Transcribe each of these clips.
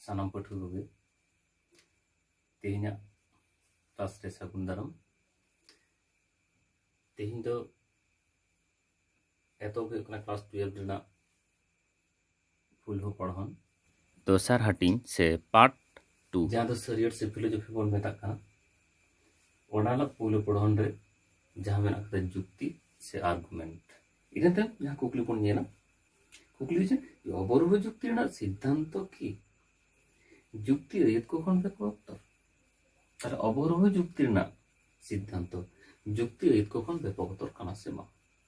ᱥᱟᱱᱟᱢ ᱯᱟᱹᱴᱷᱩᱣᱟᱹ ᱠᱚᱜᱮ ᱛᱮᱦᱮᱧᱟᱜ ᱠᱞᱟᱥ ᱨᱮ ᱥᱟᱹᱜᱩᱱ ᱫᱟᱨᱟᱢ ᱛᱮᱦᱮᱧ ᱫᱚ ᱮᱛᱚᱦᱚᱵ ᱦᱩᱭᱩᱜ ᱠᱟᱱᱟ ᱠᱞᱟᱥ ᱴᱩᱭᱮᱞᱵᱷ ᱨᱮᱱᱟᱜ ᱯᱷᱩᱞ ᱦᱚᱸ ᱯᱚᱲᱦᱚᱱ ᱫᱚᱥᱟᱨ ᱦᱟᱹᱴᱤᱧ ᱥᱮ ᱯᱟᱨᱴ ᱴᱩ ᱡᱟᱦᱟᱸ ᱫᱚ ᱥᱟᱹᱨᱤᱭᱟᱹᱲ ᱥᱮ ᱯᱷᱤᱞᱳᱡᱚᱯᱷᱤ ᱵᱚᱱ ᱢᱮᱛᱟᱜ ᱠᱟᱱᱟ ᱚᱱᱟ ᱨᱮᱱᱟᱜ ᱯᱩᱭᱞᱩ ᱯᱚᱲᱦᱚᱱ ᱨᱮ ᱡᱟᱦᱟᱸ ᱢᱮᱱᱟᱜ ᱟᱠᱟᱫᱟ ᱡᱩᱠᱛᱤ ᱥᱮ ᱟᱨᱜᱩᱢᱮᱱᱴ ᱤᱱᱟᱹ ᱛᱟᱭᱚᱢ ᱡᱟᱦᱟᱸ ᱠᱩᱠᱞᱤ ᱵᱚᱱ ᱧᱮᱞᱟ ᱠᱩᱠᱞᱤ ᱦᱩᱭᱩᱜ ᱠᱟᱱᱟ ᱚᱵᱚᱨᱳᱦᱚ ᱡᱩᱠᱛᱤ ᱨᱮᱱᱟᱜ ᱥᱤᱫᱽᱫᱷᱟᱱᱛᱚ ᱠᱤ ᱡᱩᱠᱛᱤ ᱟᱹᱭᱟᱹᱛ ᱠᱚ ᱠᱷᱚᱱ ᱵᱮᱠᱚ ᱚᱠᱛᱚ ᱛᱟᱦᱚᱞᱮ ᱚᱵᱚᱨᱳᱦᱚ ᱡᱩᱠᱛᱤ ᱨᱮᱱᱟᱜ ᱥᱤᱫᱽᱫᱷᱟᱱᱛᱚ ᱡᱩᱠᱛᱤ ᱟᱹᱭᱟᱹᱛ ᱠᱚ ᱠᱷᱚᱱ ᱵᱮᱯᱚᱠᱛᱚᱨ ᱠᱟᱱᱟ ᱥᱮ ᱵᱟᱝ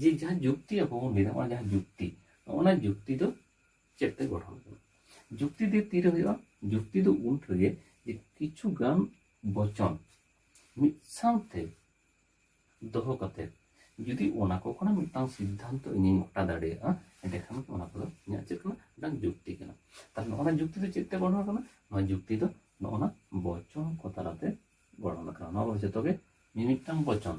ᱡᱮ ᱡᱟᱦᱟᱸ ᱡᱩᱠᱛᱤ ᱟᱵᱚ ᱵᱚᱱ ᱞᱟᱹᱭᱫᱟ ᱚᱱᱟ ᱡᱟᱦᱟᱸ ᱡᱩᱠᱛᱤ ᱚᱱᱟ ᱡᱩᱠᱛᱤ ᱫᱚ ᱪᱮᱫ ᱛᱮ ᱜᱚᱲᱦᱚᱱ ᱠᱟᱱᱟ ᱡᱩᱠᱛᱤ ᱫᱚ ᱛᱤᱨᱮ ᱦᱩᱭᱩᱜᱼᱟ ᱡᱩᱠᱛᱤ ᱫᱚ ᱩᱱ ᱨᱮᱜᱮ ᱡᱮ ᱠᱤᱪᱷᱩ ᱜᱟᱱ ᱵᱚᱪᱚᱱ ᱢᱤᱫ ᱥᱟᱶᱛᱮ ᱫᱚᱦᱚ ᱠᱟᱛᱮ ᱡᱩᱫᱤ ᱚᱱᱟ ᱠᱚ ᱠᱷᱚᱱᱟᱜ ᱢᱤᱫᱴᱟᱝ ᱥᱤᱫᱽᱫᱷᱟᱱᱛᱚ ᱤᱧᱤᱧ ᱜᱚᱴᱟ ᱫᱟᱲᱮᱭᱟᱜᱼᱟ ᱮᱸᱰᱮᱠᱷᱟᱱ ᱚᱱᱟ ᱠᱚᱫᱚ ᱤᱧᱟᱹᱜ ᱪᱮᱫ ᱠᱟᱱᱟ ᱢᱤᱫᱴᱟᱝ ᱡᱩᱠᱛᱤ ᱠᱟᱱᱟ ᱛᱟᱦᱞᱮ ᱱᱚᱜᱼᱚ ᱱᱟ ᱡᱩᱠᱛᱤ ᱫᱚ ᱪᱮᱫ ᱛᱮ ᱜᱚᱲᱦᱚᱱ ᱠᱟᱱᱟ ᱱᱚᱣᱟ ᱡᱩᱠᱛᱤ ᱫᱚ ᱱᱚᱜᱼᱚ ᱱᱟ ᱵᱚᱪᱚᱱ ᱠᱚ ᱛᱟᱞᱟᱛᱮ ᱜᱚᱲᱦᱚᱱ ᱠᱟᱱᱟ ᱱᱚᱣᱟ ᱠᱚᱫᱚ ᱡᱚᱛᱚᱜᱮ ᱢᱤᱢᱤᱫᱴᱟᱝ ᱵᱚᱪᱚᱱ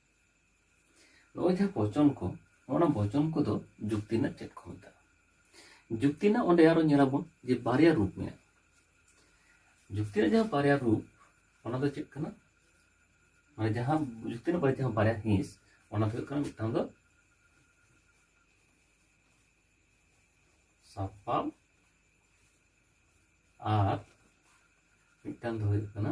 ᱱᱚᱜᱼᱚᱭ ᱡᱟᱦᱟᱸ ᱵᱚᱪᱚᱱ ᱠᱚ ᱚᱱᱟ ᱵᱚᱪᱚᱱ ᱠᱚᱫᱚ ᱡᱩᱠᱛᱤ ᱨᱮᱱᱟᱜ ᱪᱮᱫ ᱠᱚ ᱢᱮᱛᱟᱜᱼᱟ ᱡᱩᱠᱛᱤ ᱨᱮᱱᱟᱜ ᱚᱸᱰᱮ ᱟᱨᱚ ᱧᱮᱞᱟᱵᱚᱱ ᱡᱮ ᱵᱟᱨᱭᱟ ᱨᱩᱯ ᱢᱮᱱᱟᱜᱼᱟ ᱡᱩᱠᱛᱤ ᱨᱮᱱᱟᱜ ᱡᱟᱦᱟᱸ ᱵᱟᱨᱭᱟ ᱨᱩᱯ ᱚᱱᱟ ᱫᱚ ᱪᱮᱫ ᱠᱟᱱᱟ ᱢᱟᱱᱮ ᱡᱟᱦᱟᱸ ᱡᱩᱠᱛᱤ ᱨᱮᱱᱟᱜ ᱵᱟᱨᱭᱟ ᱡᱟᱦᱟᱸ ᱵᱟᱨᱭᱟ ᱦᱤᱸᱥ ᱚᱱᱟ ᱫᱚ ᱦᱩᱭᱩᱜ ᱠᱟᱱᱟ ᱢᱤᱫᱴᱟᱝ ᱫᱚ ᱥᱟᱯᱟᱵ ᱟᱨ ᱢᱤᱫᱴᱟᱝ ᱫᱚ ᱦᱩᱭᱩᱜ ᱠᱟᱱᱟ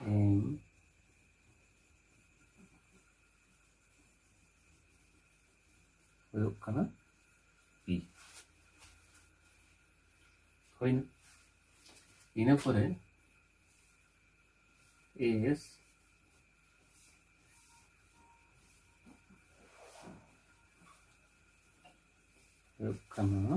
And ᱦᱩᱭᱩᱜ ᱠᱟᱱᱟ ᱯᱤ ᱦᱩᱭᱱᱟ ᱤᱱᱟᱹ ᱯᱚᱨᱮ ᱮᱥ ᱦᱩᱭᱩᱜ ᱠᱟᱱᱟ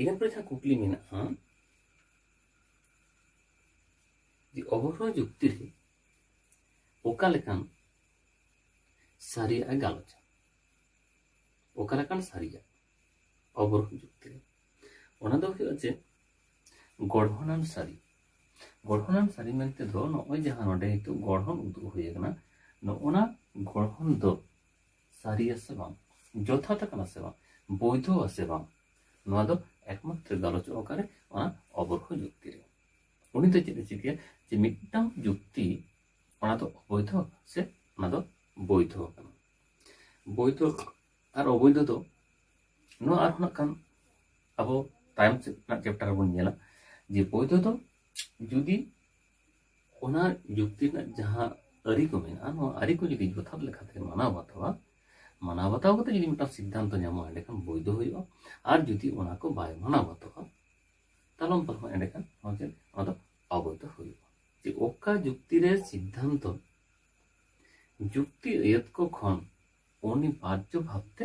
ᱤᱱᱟᱹ ᱯᱚᱨᱮ ᱡᱟᱦᱟᱸ ᱠᱩᱠᱞᱤ ᱢᱮᱱᱟᱜᱼᱟ ᱡᱮ ᱚᱵᱚᱨᱳᱦᱚ ᱡᱩᱠᱛᱤ ᱨᱮ ᱚᱠᱟ ᱞᱮᱠᱟᱱ ᱥᱟᱹᱨᱤᱭᱟᱜ ᱮ ᱜᱟᱞᱚᱪᱟ ᱚᱠᱟ ᱞᱮᱠᱟᱱ ᱥᱟᱹᱨᱤᱭᱟᱜ ᱚᱵᱚᱨᱳᱦᱚ ᱡᱩᱠᱛᱤ ᱨᱮ ᱚᱱᱟ ᱫᱚ ᱦᱩᱭᱩᱜᱼᱟ ᱡᱮ ᱜᱚᱲᱦᱚᱱᱟᱱ ᱥᱟᱹᱨᱤ ᱜᱚᱲᱦᱚᱱᱟᱱ ᱥᱟᱹᱨᱤ ᱢᱮᱱᱛᱮ ᱫᱚ ᱱᱚᱜᱼᱚᱭ ᱡᱟᱦᱟᱸ ᱱᱚᱰᱮ ᱱᱤᱛᱚᱜ ᱜᱚᱲᱦᱚᱱ ᱩᱫᱩᱜ ᱦᱩᱭ ᱟᱠᱟᱱᱟ ᱱᱚᱜᱼᱚᱱᱟ ᱜᱚᱲᱦᱚᱱ ᱫᱚ ᱥᱟᱹᱨᱤᱭᱟ ᱥᱮ ᱵᱟᱝ ᱡᱚᱛᱷᱟᱛ ᱟᱠᱟᱱᱟ ᱥᱮ ᱵᱟᱝ ᱵᱳᱭᱫᱷᱚ ᱟᱥᱮ ᱵᱟᱝ ᱱᱚᱣᱟ ᱫᱚ ᱮᱠᱢᱟᱛᱨᱚ ᱜᱟᱞᱚᱪᱚᱜ ᱚᱠᱟᱨᱮ ᱚᱱᱟ ᱚᱵᱚᱨᱦᱚ ᱡᱩᱠᱛᱤ ᱨᱮ ᱩᱱᱤ ᱫᱚ ᱪᱮᱫ ᱮ ᱪᱤᱠᱟᱹᱭᱟ ᱡᱮ ᱢᱤᱫᱴᱟᱝ ᱡᱩᱠᱛᱤ ᱚᱱᱟ ᱫᱚ ᱚᱵᱳᱭᱫᱷᱚ ᱥᱮ ᱚᱱᱟ ᱫᱚ ᱵᱳᱭᱫᱷᱚ ᱠᱟᱱᱟ ᱵᱳᱭᱫᱷᱚ ᱟᱨ ᱚᱵᱳᱭᱫᱷᱚ ᱫᱚ ᱱᱚᱣᱟ ᱟᱨᱦᱚᱸ ᱱᱟᱜ ᱠᱷᱟᱱ ᱟᱵᱚ ᱛᱟᱭᱚᱢ ᱥᱮᱫ ᱨᱮᱱᱟᱜ ᱪᱮᱯᱴᱟᱨ ᱨᱮᱵᱚᱱ ᱧᱮᱞᱟ ᱡᱮ ᱵᱳᱭᱫᱷᱚ ᱫᱚ ᱡᱩᱫᱤ ᱚᱱᱟ ᱡᱩᱠᱛᱤ ᱨᱮᱱᱟᱜ ᱡᱟᱦᱟᱸ ᱟᱹᱨᱤ ᱠᱚ ᱢᱮᱱᱟᱜᱼᱟ ᱱᱚᱣᱟ ᱟᱹᱨᱤ ᱠᱚ ᱡᱩᱫᱤ ᱡᱚᱛᱷᱟᱛ ᱞᱮᱠᱟᱛᱮ ᱢᱟᱱᱟᱣ ᱵᱟᱛᱟᱣᱟ ᱢᱟᱱᱟᱣ ᱵᱟᱛᱟᱣ ᱠᱟᱛᱮ ᱡᱩᱫᱤ ᱢᱤᱫᱴᱟᱝ ᱥᱤᱫᱽᱫᱷᱟᱱᱛᱚ ᱧᱟᱢᱚᱜᱼᱟ ᱮᱸᱰᱮᱠᱷᱟᱱ ᱵᱳᱭᱫᱷᱚ ᱦᱩᱭᱩᱜᱼᱟ ᱟᱨ ᱡᱩᱫᱤ ᱚᱱᱟ ᱠᱚ ᱵᱟᱭ ᱢᱟᱱᱟᱣ ᱵᱟᱛᱟᱣᱟ ᱛᱟᱞᱚᱢ ᱯᱟᱞᱚᱢ ᱮᱸᱰᱮᱠᱷᱟᱱ ᱱᱚᱣᱟ ᱪᱮᱫ ᱱᱚᱣᱟ ᱫᱚ ᱚᱵᱳᱭᱫᱷᱚ ᱦᱩᱭᱩᱜᱼᱟ ᱡᱮ ᱚᱠᱟ ᱡᱩᱠᱛᱤ ᱨᱮ ᱥᱤᱫᱽᱫᱷᱟᱱᱛᱚ ᱡᱩᱠᱛᱤ ᱟᱹᱭᱟᱹᱛ ᱠᱚ ᱠᱷᱚᱱ ᱚᱱᱤᱵᱟᱨᱡᱚ ᱵᱷᱟᱵᱛᱮ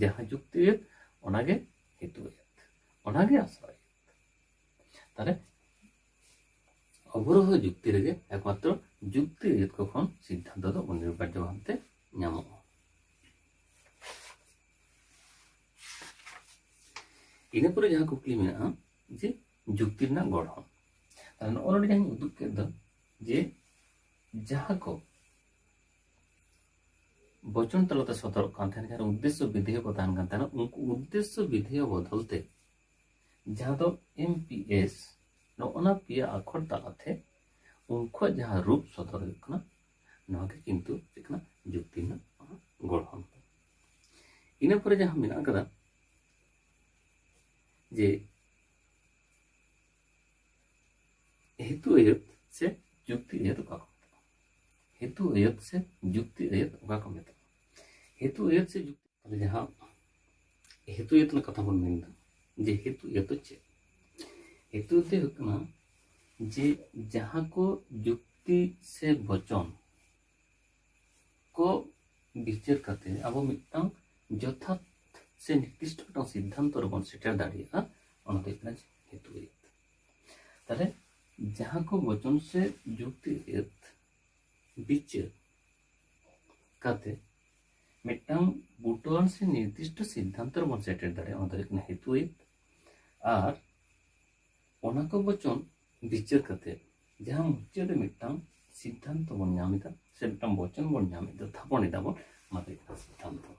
ᱡᱟᱦᱟᱸ ᱡᱩᱠᱛᱤ ᱟᱹᱭᱟᱹᱛ ᱚᱱᱟᱜᱮ ᱦᱮᱛᱩ ᱟᱹᱭᱟᱹᱛ ᱚᱱᱟᱜᱮ ᱟᱥᱨᱚᱭ ᱛᱟᱦᱚᱞᱮ ᱚᱵᱚᱨᱳᱦ ᱡᱩᱠᱛᱤ ᱨᱮᱜᱮ ᱮᱠᱢᱟᱛᱨᱚ ᱡᱩᱠᱛᱤ ᱟᱹᱭᱟᱹᱛ ᱠᱚ ᱠᱷᱚᱱ ᱥᱤᱫᱽᱫᱷᱟᱱᱛᱚ ᱫᱚ ᱚᱱᱤᱨᱵᱟᱨᱡᱚ ᱵᱷᱟᱵᱛᱮ ᱧᱟᱢᱚᱜᱼᱟ ᱤᱱᱟᱹ ᱯᱚᱨᱮ ᱡᱟᱦᱟᱸ ᱠᱩᱠᱞᱤ ᱢᱮᱱᱟᱜᱼᱟ ᱡᱮ ᱡᱩᱠᱛᱤ ᱨᱮᱱᱟᱜ ᱜᱚᱲᱦᱚᱱ ᱱᱚᱜᱼᱚ ᱱᱚᱰᱮ ᱡᱟᱦᱟᱸᱧ ᱩᱫᱩᱜ ᱠᱮᱫ ᱫᱚ ᱡᱮ ᱡᱟᱦᱟᱸ ᱠᱚ ᱵᱚᱪᱚᱱ ᱛᱟᱞᱟᱛᱮ ᱥᱚᱫᱚᱨᱚᱜ ᱠᱟᱱ ᱛᱟᱦᱮᱸᱱ ᱡᱟᱦᱟᱸ ᱩᱫᱽᱫᱮᱥᱥᱚ ᱵᱤᱫᱷᱮᱭᱚ ᱠᱚ ᱛᱟᱦᱮᱱ ᱠᱟᱱ ᱛᱟᱦᱮᱱᱟ ᱩᱱᱠᱩ ᱩᱫᱽᱫᱮᱥᱥᱚ ᱵᱤᱫᱷᱮᱭᱚ ᱵᱚᱫᱚᱞ ᱛᱮ ᱡᱟᱦᱟᱸ ᱫᱚ ᱮᱢ ᱯᱤ ᱮᱥ ᱱᱚᱜᱼᱚᱱᱟ ᱯᱮᱭᱟ ᱟᱠᱷᱚᱨ ᱛᱟᱞᱟᱛᱮ ᱩᱱᱠᱩᱣᱟᱜ ᱡᱟᱦᱟᱸ ᱨᱩᱯ ᱥᱚᱫᱚᱨ ᱦᱩᱭᱩᱜ ᱠᱟᱱᱟ ᱱᱚᱣᱟ ᱜᱮ ᱠᱤᱱᱛᱩ ᱪᱮᱫ ᱠᱟᱱᱟ ᱡᱩᱠᱛᱤ ᱨᱮᱱᱟᱜ ᱜᱚᱲᱦᱚᱱ ᱤᱱᱟᱹ ᱯᱚᱨᱮ ᱡᱟᱦᱟᱸ ᱢᱮᱱᱟᱜ ᱟᱠᱟᱫᱟ ᱡᱮ ᱦᱮᱛᱩ ᱟᱹᱭᱟᱹᱛ ᱥᱮ ᱡᱩᱠᱛᱤ ᱟᱹᱭᱟᱹᱛ ᱚᱠᱟ ᱠᱚ ᱦᱮᱛᱩ ᱟᱹᱭᱟᱹᱛ ᱥᱮ ᱡᱩᱠᱛᱤ ᱟᱹᱭᱟᱹᱛ ᱚᱠᱟ ᱠᱚ ᱢᱮᱛᱟᱜᱼᱟ ᱦᱮᱛᱩ ᱟᱹᱭᱟᱹᱛ ᱥᱮ ᱡᱩᱠᱛᱤ ᱛᱟᱦᱚᱞᱮ ᱡᱟᱦᱟᱸ ᱦᱮᱛᱩ ᱟᱹᱭᱟᱹᱛ ᱨᱮᱱᱟᱜ ᱠᱟᱛᱷᱟ ᱵᱚᱱ ᱢᱮᱱᱫᱟ ᱡᱮ ᱦᱮᱛᱩ ᱟᱹᱭᱟᱹᱛ ᱫᱚ ᱪᱮᱫ ᱦᱮᱛᱩ ᱟᱹᱭᱟᱹᱛ ᱦᱩᱭᱩᱜ ᱠᱟᱱᱟ ᱡᱮ ᱡᱟᱦᱟᱸ ᱠᱚ ᱡᱩᱠᱛᱤ ᱥᱮ ᱵᱚᱪᱚᱱ ᱠᱚ ᱵᱤᱪᱟᱹᱨ ᱠᱟᱛᱮ ᱟᱵᱚ ᱢᱤᱫᱴᱟᱝ ᱡᱚᱛᱷᱟᱛ ᱥᱮ ᱱᱤᱨᱫᱤᱥᱴᱚ ᱢᱤᱫᱴᱟᱝ ᱥᱤᱫᱽᱫᱷᱟᱱᱛᱚ ᱨᱮᱵᱚᱱ ᱥᱮᱴᱮᱨ ᱫᱟᱲᱮᱭᱟᱜᱼᱟ ᱚᱱᱟ ᱫᱚ ᱦᱩᱭᱩᱜ ᱠᱟᱱᱟ ᱦᱮᱛᱩ ᱟᱹᱭᱟᱹᱛ ᱛᱟᱦᱞᱮ ᱡᱟᱦᱟᱸ ᱠᱚ ᱵᱚᱪᱚᱱ ᱥᱮ ᱡᱩᱠᱛᱤ ᱮᱛ ᱵᱤᱪᱟᱹᱨ ᱠᱟᱛᱮ ᱢᱤᱫᱴᱟᱝ ᱵᱩᱴᱟᱹᱣᱟᱱ ᱥᱮ ᱱᱤᱨᱫᱤᱥᱴᱚ ᱥᱤᱫᱽᱫᱷᱟᱱᱛᱚ ᱨᱮᱵᱚᱱ ᱥᱮᱴᱮᱨ ᱫᱟᱲᱮᱭᱟᱜᱼᱟ ᱚᱱᱟ ᱫᱚ ᱦᱩᱭᱩᱜ ᱠᱟᱱᱟ ᱦᱮᱛᱩ ᱮᱛ ᱟᱨ ᱚᱱᱟ ᱠᱚ ᱵᱚᱪᱚᱱ ᱵᱤᱪᱟᱹᱨ ᱠᱟᱛᱮ ᱡᱟᱦᱟᱸ ᱢᱩᱪᱟᱹᱫ ᱨᱮ ᱢᱤᱫᱴᱟᱝ ᱥᱤᱫᱽᱫᱷᱟᱱᱛᱚ ᱵᱚᱱ ᱧᱟᱢ ᱮᱫᱟ ᱥᱮ ᱢᱤᱫᱴᱟᱝ ᱵᱚᱪᱚᱱ ᱵᱚᱱ ᱧᱟᱢ ᱮᱫᱟ ᱛᱷᱟᱯᱚᱱ ᱮᱫᱟ ᱵᱚᱱ ᱚᱱᱟ ᱫᱚ ᱦᱩᱭᱩᱜ ᱠᱟᱱᱟ ᱥᱤᱫᱽᱫᱷᱟᱱᱛᱚ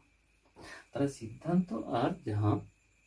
ᱛᱟᱦᱞᱮ ᱥᱤᱫᱽᱫᱷᱟᱱᱛᱚ ᱟᱨ ᱡᱟᱦᱟᱸ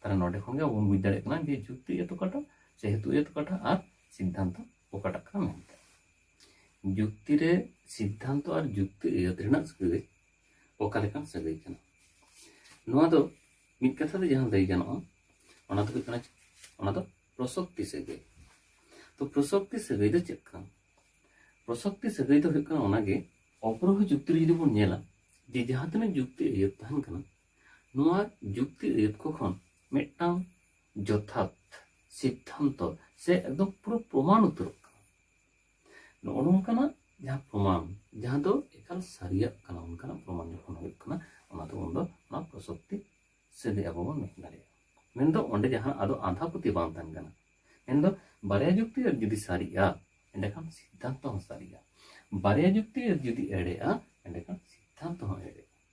ᱛᱟᱦᱚᱞᱮ ᱱᱚᱰᱮ ᱠᱷᱚᱱ ᱜᱮ ᱵᱚᱱ ᱵᱩᱡᱽ ᱫᱟᱲᱮᱭᱟᱜ ᱠᱟᱱᱟ ᱡᱮ ᱡᱩᱠᱛᱤ ᱮᱛ ᱚᱠᱟᱴᱟᱜ ᱥᱮ ᱦᱮᱛᱩ ᱮᱛ ᱚᱠᱟᱴᱟᱜ ᱟᱨ ᱥᱤᱫᱽᱫᱷᱟᱱᱛᱚ ᱚᱠᱟᱴᱟᱜ ᱠᱟᱱᱟ ᱢᱮᱱᱛᱮ ᱡᱩᱠᱛᱤ ᱨᱮ ᱥᱤᱫᱽᱫᱷᱟᱱᱛᱚ ᱟᱨ ᱡᱩᱠᱛᱤ ᱮᱛ ᱨᱮᱱᱟᱜ ᱥᱟᱹᱜᱟᱹᱭ ᱚᱠᱟ ᱞᱮᱠᱟᱱ ᱥᱟᱹᱜᱟᱹᱭ ᱠᱟᱱᱟ ᱱᱚᱣᱟ ᱫᱚ ᱢᱤᱫ ᱠᱟᱛᱷᱟ ᱛᱮ ᱡᱟᱦᱟᱸ ᱞᱟᱹᱭ ᱜᱟᱱᱚᱜᱼᱟ ᱚᱱᱟ ᱫᱚ ᱦᱩᱭᱩᱜ ᱠᱟᱱᱟ ᱚᱱᱟ ᱫᱚ ᱯᱨᱚᱥᱚᱠᱛᱤ ᱥᱟᱹᱜᱟᱹᱭ ᱛᱚ ᱯᱨᱚᱥᱚᱠᱛᱤ ᱥᱟᱹᱜᱟᱹᱭ ᱫᱚ ᱪᱮᱫ ᱠᱟᱱᱟ ᱯᱨᱚᱥᱚᱠᱛᱤ ᱥᱟᱹᱜᱟᱹᱭ ᱫᱚ ᱦᱩᱭᱩᱜ ᱠᱟᱱᱟ ᱚᱱᱟᱜᱮ ᱚᱯᱨᱚᱦᱚ ᱡᱩᱠᱛᱤ ᱨᱮ ᱡᱩᱫᱤ ᱵᱚᱱ ᱧᱮᱞᱟ ᱡᱮ ᱡᱟᱦᱟᱸ ᱛᱤᱱᱟᱹᱜ ᱡᱩᱠᱛᱤ ᱟᱹᱭᱟᱹᱛ ᱛᱟᱦᱮᱱ ᱠᱟᱱᱟ ᱱᱚᱣᱟ ᱡᱩᱠᱛᱤ ᱟᱹᱭᱟᱹᱛ ᱠᱚ ᱠᱷᱚᱱ ᱢᱤᱫᱴᱟᱝ ᱡᱚᱛᱷᱟᱛ ᱥᱤᱫᱽᱫᱷᱟᱱᱛᱚ ᱥᱮ ᱮᱠᱫᱚᱢ ᱯᱩᱨᱟᱹ ᱯᱨᱚᱢᱟᱱ ᱩᱛᱟᱹᱨᱚᱜ ᱠᱟᱱᱟ ᱱᱚᱜᱼᱚ ᱱᱚᱝᱠᱟᱱᱟᱜ ᱡᱟᱦᱟᱸ ᱯᱨᱚᱢᱟᱱ ᱡᱟᱦᱟᱸ ᱫᱚ ᱮᱠᱟᱞ ᱥᱟᱹᱨᱤᱭᱟᱜ ᱠᱟᱱᱟ ᱚᱱᱠᱟᱱᱟᱜ ᱯᱨᱚᱢᱟᱱ ᱡᱚᱠᱷᱚᱱ ᱦᱩᱭᱩᱜ ᱠᱟᱱᱟ ᱚᱱᱟ ᱫᱚ ᱩᱱᱫᱚ ᱚᱱᱟ ᱯᱨᱚᱥᱚᱠᱛᱤ ᱥᱮᱫᱮ ᱟᱵᱚ ᱵᱚᱱ ᱢᱮᱱ ᱫᱟᱲᱮᱭᱟᱜᱼᱟ ᱢᱮᱱᱫᱚ ᱚᱸᱰᱮ ᱡᱟᱦᱟᱸ ᱟᱫᱚ ᱟᱸᱫᱷᱟ ᱯᱟᱹᱛᱭᱟᱹᱣ ᱵᱟᱝ ᱛᱟᱦᱮᱱ ᱠᱟᱱᱟ ᱢᱮᱱᱫᱚ ᱵᱟᱨᱭᱟ ᱡᱩᱠᱛᱤ ᱟᱹᱭᱟᱹᱛ ᱡᱩᱫᱤ ᱥᱟᱹᱨᱤᱜᱼᱟ ᱮᱸᱰᱮᱠᱷᱟᱱ ᱥᱤᱫᱽᱫᱷᱟᱱᱛᱚ ᱦᱚᱸ ᱥᱟᱹᱨᱤᱜᱼᱟ ᱵᱟᱨᱭᱟ ᱡᱩᱠᱛᱤ ᱟᱹᱭᱟᱹᱛ ᱡᱩᱫᱤ ᱮᱲᱮᱜᱼᱟ ᱮᱸᱰᱮᱠᱷᱟᱱ ᱥᱤᱫᱽᱫᱷᱟᱱᱛᱚ ᱦᱚᱸ ᱮᱲᱮᱜᱼᱟ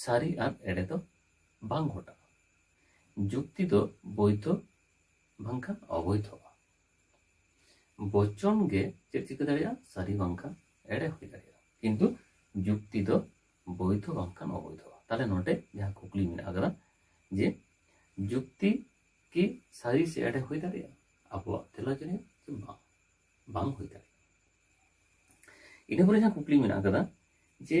ᱥᱟᱹᱨᱤ ᱟᱨ ᱮᱲᱮ ᱫᱚ ᱵᱟᱝ ᱜᱷᱚᱴᱟᱜᱼᱟ ᱡᱩᱠᱛᱤ ᱫᱚ ᱵᱳᱭᱫᱷᱚ ᱵᱟᱝᱠᱷᱟᱱ ᱚᱵᱳᱭᱫᱷᱚᱜᱼᱟ ᱵᱚᱪᱚᱱ ᱜᱮ ᱪᱮᱫ ᱪᱤᱠᱟᱹ ᱫᱟᱲᱮᱭᱟᱜᱼᱟ ᱥᱟᱹᱨᱤ ᱵᱟᱝᱠᱷᱟᱱ ᱮᱲᱮ ᱦᱩᱭ ᱫᱟᱲᱮᱭᱟᱜᱼᱟ ᱠᱤᱱᱛᱩ ᱡᱩᱠᱛᱤ ᱫᱚ ᱵᱳᱭᱫᱷᱚ ᱵᱟᱝᱠᱷᱟᱱ ᱚᱵᱳᱭᱫᱷᱚᱜᱼᱟ ᱛᱟᱦᱞᱮ ᱱᱚᱰᱮ ᱡᱟᱦᱟᱸ ᱠᱩᱠᱞᱤ ᱢᱮᱱᱟᱜ ᱟᱠᱟᱫᱟ ᱡᱮ ᱡᱩᱠᱛᱤ ᱠᱤ ᱥᱟᱹᱨᱤ ᱥᱮ ᱮᱲᱮ ᱦᱩᱭ ᱫᱟᱲᱮᱭᱟᱜᱼᱟ ᱟᱵᱚᱣᱟᱜ ᱛᱮᱞᱟ ᱡᱮ ᱵᱟᱝ ᱵᱟᱝ ᱦᱩᱭ ᱫᱟᱲᱮᱭᱟᱜᱼᱟ ᱤᱱᱟᱹ ᱯᱚᱨᱮ ᱡᱟᱦᱟᱸ ᱠᱩᱠᱞᱤ ᱢᱮᱱᱟᱜ ᱟᱠᱟᱫᱟ ᱡᱮ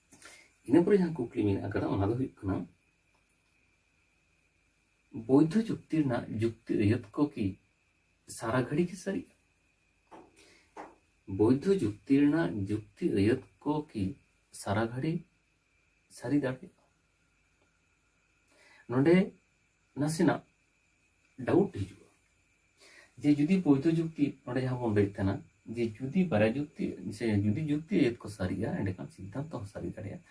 ᱤᱱᱟᱹ ᱯᱚᱨᱮ ᱡᱟᱦᱟᱸ ᱠᱩᱠᱞᱤ ᱢᱮᱱᱟᱜ ᱟᱠᱟᱫᱟ ᱚᱱᱟ ᱫᱚ ᱦᱩᱭᱩᱜ ᱠᱟᱱᱟ ᱵᱳᱭᱫᱷᱚ ᱪᱩᱠᱛᱤ ᱨᱮᱱᱟᱜ ᱡᱩᱠᱛᱤ ᱟᱹᱭᱟᱹᱛ ᱠᱚ ᱠᱤ ᱥᱟᱨᱟ ᱜᱷᱟᱹᱲᱤ ᱜᱮ ᱥᱟᱹᱨᱤᱜᱼᱟ ᱵᱳᱭᱫᱷᱚ ᱡᱩᱠᱛᱤ ᱨᱮᱱᱟᱜ ᱡᱩᱠᱛᱤ ᱟᱹᱭᱟᱹᱛ ᱠᱚ ᱠᱤ ᱥᱟᱨᱟ ᱜᱷᱟᱹᱲᱤ ᱥᱟᱹᱨᱤ ᱫᱟᱲᱮᱭᱟᱜᱼᱟ ᱱᱚᱰᱮ ᱱᱟᱥᱮᱱᱟᱜ ᱰᱟᱣᱩᱴ ᱦᱤᱡᱩᱜᱼᱟ ᱡᱮ ᱡᱩᱫᱤ ᱵᱳᱭᱫᱷᱚ ᱡᱩᱠᱛᱤ ᱱᱚᱰᱮ ᱡᱟᱦᱟᱸ ᱵᱚᱱ ᱞᱟᱹᱭᱮᱫ ᱛᱟᱦᱮᱱᱟ ᱡᱮ ᱡᱩᱫᱤ ᱵᱟᱨᱭᱟ ᱡᱩᱠᱛᱤ ᱥᱮ ᱡᱩᱫᱤ ᱡᱩᱠᱛᱤ ᱟᱹᱭᱟᱹᱛ ᱠᱚ ᱥᱟᱹᱨᱤᱜᱼᱟ ᱮᱸᱰᱮᱠᱷᱟᱱ ᱥᱤᱫᱽᱫᱷᱟᱱᱛᱚ ᱦᱚᱸ ᱥᱟᱹᱨᱤ ᱫᱟᱲᱮᱭᱟᱜᱼᱟ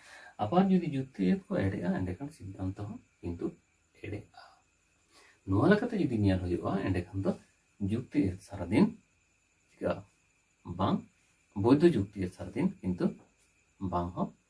ᱟᱵᱟᱨ ᱡᱩᱫᱤ ᱡᱩᱠᱛᱤ ᱟᱹᱭᱟᱹᱛ ᱠᱚ ᱮᱲᱮᱜᱼᱟ ᱮᱸᱰᱮᱠᱷᱟᱱ ᱥᱤᱫᱽᱫᱷᱟᱱᱛᱚ ᱦᱚᱸ ᱠᱤᱱᱛᱩ ᱮᱲᱮᱜᱼᱟ ᱱᱚᱣᱟ ᱞᱮᱠᱟᱛᱮ ᱡᱩᱫᱤ ᱧᱮᱞ ᱦᱩᱭᱩᱜᱼᱟ ᱮᱸᱰᱮᱠᱷᱟᱱ ᱫᱚ ᱡᱩᱠᱛᱤ ᱟᱹᱭᱟᱹᱛ ᱥᱟᱨᱟᱫᱤᱱ ᱪᱤᱠᱟᱹᱜᱼᱟ ᱵᱟᱝ ᱵᱳᱭᱫᱷᱚ ᱡᱩᱠᱛᱤ ᱟᱹᱭᱟᱹᱛ ᱥᱟᱨᱟᱫᱤᱱ ᱠᱤᱱᱛᱩ ᱵᱟᱝ ᱦᱚᱸ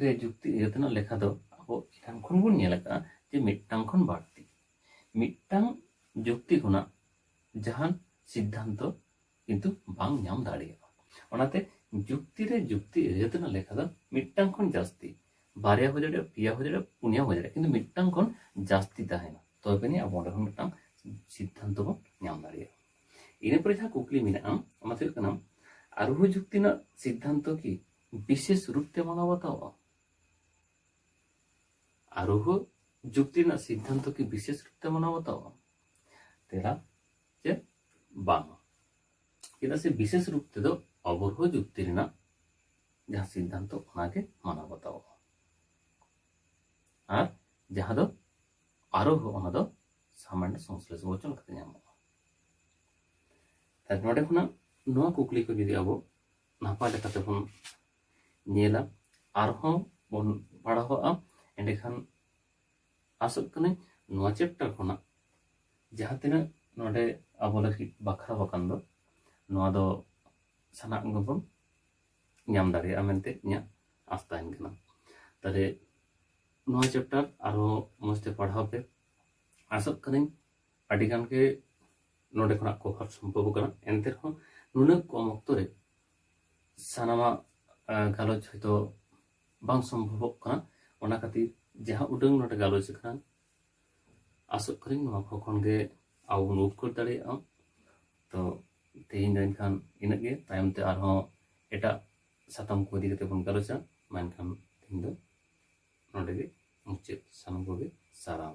ᱨᱮ ᱡᱩᱠᱛᱤ ᱤᱭᱟᱹ ᱛᱮᱱᱟᱜ ᱞᱮᱠᱷᱟ ᱫᱚ ᱟᱵᱚ ᱮᱱᱟᱝ ᱠᱷᱚᱱ ᱵᱚᱱ ᱧᱮᱞ ᱟᱠᱟᱫᱼᱟ ᱡᱮ ᱢᱤᱫᱴᱟᱝ ᱠᱷᱚᱱ ᱵᱟᱹᱲᱛᱤ ᱢᱤᱫᱴᱟᱝ ᱡᱩᱠᱛᱤ ᱠᱷᱚᱱᱟᱜ ᱡᱟᱦᱟᱱ ᱥᱤᱫᱽᱫᱷᱟᱱᱛᱚ ᱠᱤᱱᱛᱩ ᱵᱟᱝ ᱧᱟᱢ ᱫᱟᱲᱮᱭᱟᱜᱼᱟ ᱚᱱᱟᱛᱮ ᱡᱩᱠᱛᱤ ᱨᱮ ᱡᱩᱠᱛᱤ ᱤᱭᱟᱹ ᱛᱮᱱᱟᱜ ᱞᱮᱠᱷᱟ ᱫᱚ ᱢᱤᱫᱴᱟᱝ ᱠᱷᱚᱱ ᱡᱟᱹᱥᱛᱤ ᱵᱟᱨᱭᱟ ᱦᱩᱭ ᱫᱟᱲᱮᱭᱟᱜᱼᱟ ᱯᱮᱭᱟ ᱦᱩᱭ ᱫᱟᱲᱮᱭᱟᱜᱼᱟ ᱯᱩᱱᱭᱟ ᱦᱩᱭ ᱫᱟᱲᱮᱭᱟᱜᱼᱟ ᱠᱤᱱᱛᱩ ᱢᱤᱫᱴᱟᱝ ᱠᱷᱚᱱ ᱡᱟᱹᱥᱛᱤ ᱛᱟᱦᱮᱱᱟ ᱛᱚᱵᱮ ᱟᱹᱱᱤᱡ ᱟᱵᱚ ᱚᱸᱰᱮ ᱠᱷᱚᱱ ᱢᱤᱫᱴᱟᱝ ᱥᱤᱫᱽᱫᱷᱟᱱᱛᱚ ᱵᱚᱱ ᱧᱟᱢ ᱫᱟᱲᱮᱭᱟᱜᱼᱟ ᱤᱱᱟᱹ ᱯᱚᱨᱮ ᱡᱟᱦᱟᱸ ᱠᱩᱠᱞᱤ ᱢᱮᱱᱟᱜᱼᱟ ᱚᱱᱟ ᱫᱚ ᱦᱩᱭᱩᱜ ᱠᱟᱱᱟ ᱟᱨᱳᱦᱚ ᱡᱩᱠᱛᱤ ᱨᱮᱱᱟᱜ ᱥᱤᱫᱽᱫᱷᱟᱱᱛᱚ ᱠᱤ ᱵᱤᱥᱮᱥ ᱨᱩᱯ ᱛᱮ ᱢᱟᱱᱟᱣ ᱵᱟᱛᱟᱣᱚᱜᱼᱟ ᱟᱨᱳᱦᱚ ᱡᱩᱠᱛᱤ ᱨᱮᱱᱟᱜ ᱥᱤᱫᱽᱫᱷᱟᱱᱛᱚ ᱠᱤ ᱵᱤᱥᱮᱥ ᱨᱩᱯ ᱛᱮ ᱢᱟᱱᱟᱣ ᱵᱟᱛᱟᱣᱚᱜᱼᱟ ᱛᱮᱨᱟ ᱪᱮᱫ ᱵᱟᱝ ᱪᱮᱫᱟᱜ ᱥᱮ ᱵᱤᱥᱮᱥ ᱨᱩᱯ ᱛᱮᱫᱚ ᱚᱵᱚᱨᱦᱚ ᱡᱩᱠᱛᱤ ᱨᱮᱱᱟᱜ ᱡᱟᱦᱟᱸ ᱥᱤᱫᱽᱫᱷᱟᱱᱛᱚ ᱚᱱᱟᱜᱮ ᱢᱟᱱᱟᱣ ᱵᱟᱛᱟᱣᱚᱜᱼᱟ ᱟᱨ ᱡᱟᱦᱟᱸ ᱫᱚ ᱟᱨᱳᱦᱚ ᱚᱱᱟ ᱫᱚ ᱥᱟᱢᱟᱱᱰ ᱥᱚᱝᱥᱞᱮᱥ ᱵᱚᱪᱚᱱ ᱞᱮᱠᱟᱛᱮ ᱧᱟᱢᱚᱜᱼᱟ ᱛᱟᱦᱞᱮ ᱱᱚᱰᱮ ᱠᱷᱚᱱᱟᱜ ᱱᱚᱣᱟ ᱠᱩᱠᱞᱤ ᱠᱚ ᱡᱩᱫᱤ ᱟᱵᱚ ᱱᱟᱯᱟᱭ ᱞᱮᱠᱟ ᱛᱮᱵᱚᱱ ᱧᱮᱞᱟ ᱟᱨᱦᱚᱸ ᱵᱚᱱ ᱯᱟᱲᱦᱟᱣᱟ ᱮᱸᱰᱮᱠᱷᱟᱱ ᱟᱥᱚᱜ ᱠᱟᱹᱱᱟᱹᱧ ᱱᱚᱣᱟ ᱪᱮᱯᱴᱟᱨ ᱠᱷᱚᱱᱟᱜ ᱡᱟᱦᱟᱸ ᱛᱤᱱᱟᱹᱜ ᱱᱚᱰᱮ ᱟᱵᱚ ᱞᱟᱹᱜᱤᱫ ᱵᱟᱠᱷᱨᱟ ᱟᱠᱟᱱ ᱫᱚ ᱱᱚᱣᱟ ᱫᱚ ᱥᱟᱱᱟᱢ ᱜᱮᱵᱚᱱ ᱧᱟᱢ ᱫᱟᱲᱮᱭᱟᱜᱼᱟ ᱢᱮᱱᱛᱮ ᱤᱧᱟᱹᱜ ᱟᱥ ᱛᱟᱦᱮᱱ ᱠᱟᱱᱟ ᱛᱟᱦᱞᱮ ᱱᱚᱣᱟ ᱪᱮᱯᱴᱟᱨ ᱟᱨᱦᱚᱸ ᱢᱚᱡᱽ ᱛᱮ ᱯᱟᱲᱦᱟᱣ ᱯᱮ ᱟᱥᱚᱜ ᱠᱟᱹᱱᱟᱹᱧ ᱟᱹᱰᱤ ᱜᱟᱱ ᱜᱮ ᱱᱚᱰᱮ ᱠᱷᱚᱱᱟᱜ ᱠᱚᱵᱷᱟᱨ ᱥᱚᱢᱵᱷᱚᱵ ᱠᱟᱱᱟ ᱮᱱᱛᱮ ᱨᱮᱦᱚᱸ ᱱᱩᱱᱟᱹᱜ ᱠᱚᱢ ᱚᱠᱛᱚ ᱨᱮ ᱥᱟᱱᱟᱢᱟᱜ ᱜᱟᱞᱚᱪ ᱦᱚᱭᱛᱳ ᱵᱟᱝ ᱥᱚᱢᱵᱷᱚᱵᱚᱜ ᱠᱟᱱᱟ ᱚᱱᱟ ᱠᱷᱟᱹᱛᱤᱨ ᱡᱟᱦᱟᱸ ᱩᱰᱟᱹᱝ ᱱᱚᱰᱮ ᱜᱟᱞᱚᱪ ᱟᱠᱟᱱ ᱟᱥᱚᱜ ᱠᱟᱹᱱᱟᱹᱧ ᱱᱚᱣᱟ ᱠᱚ ᱠᱷᱚᱱ ᱜᱮ ᱟᱵᱚ ᱵᱚᱱ ᱩᱯᱠᱟᱹᱨ ᱫᱟᱲᱮᱭᱟᱜᱼᱟ ᱛᱚ ᱛᱮᱦᱮᱧ ᱫᱚ ᱮᱱᱠᱷᱟᱱ ᱤᱱᱟᱹᱜ ᱜᱮ ᱛᱟᱭᱚᱢ ᱛᱮ ᱟᱨᱦᱚᱸ ᱮᱴᱟᱜ ᱥᱟᱛᱟᱢ ᱠᱚ ᱤᱫᱤ ᱠᱟᱛᱮ ᱵᱚᱱ ᱜᱟᱞᱚᱪᱟ ᱢᱮᱱᱠᱷᱟᱱ ᱛᱮᱦᱮᱧ ᱫᱚ ᱱᱚᱰᱮ ᱜᱮ ᱢᱩᱪᱟᱹᱫ ᱥᱟᱱᱟᱢ ᱠᱚᱜᱮ ᱥᱟᱨᱦᱟᱣ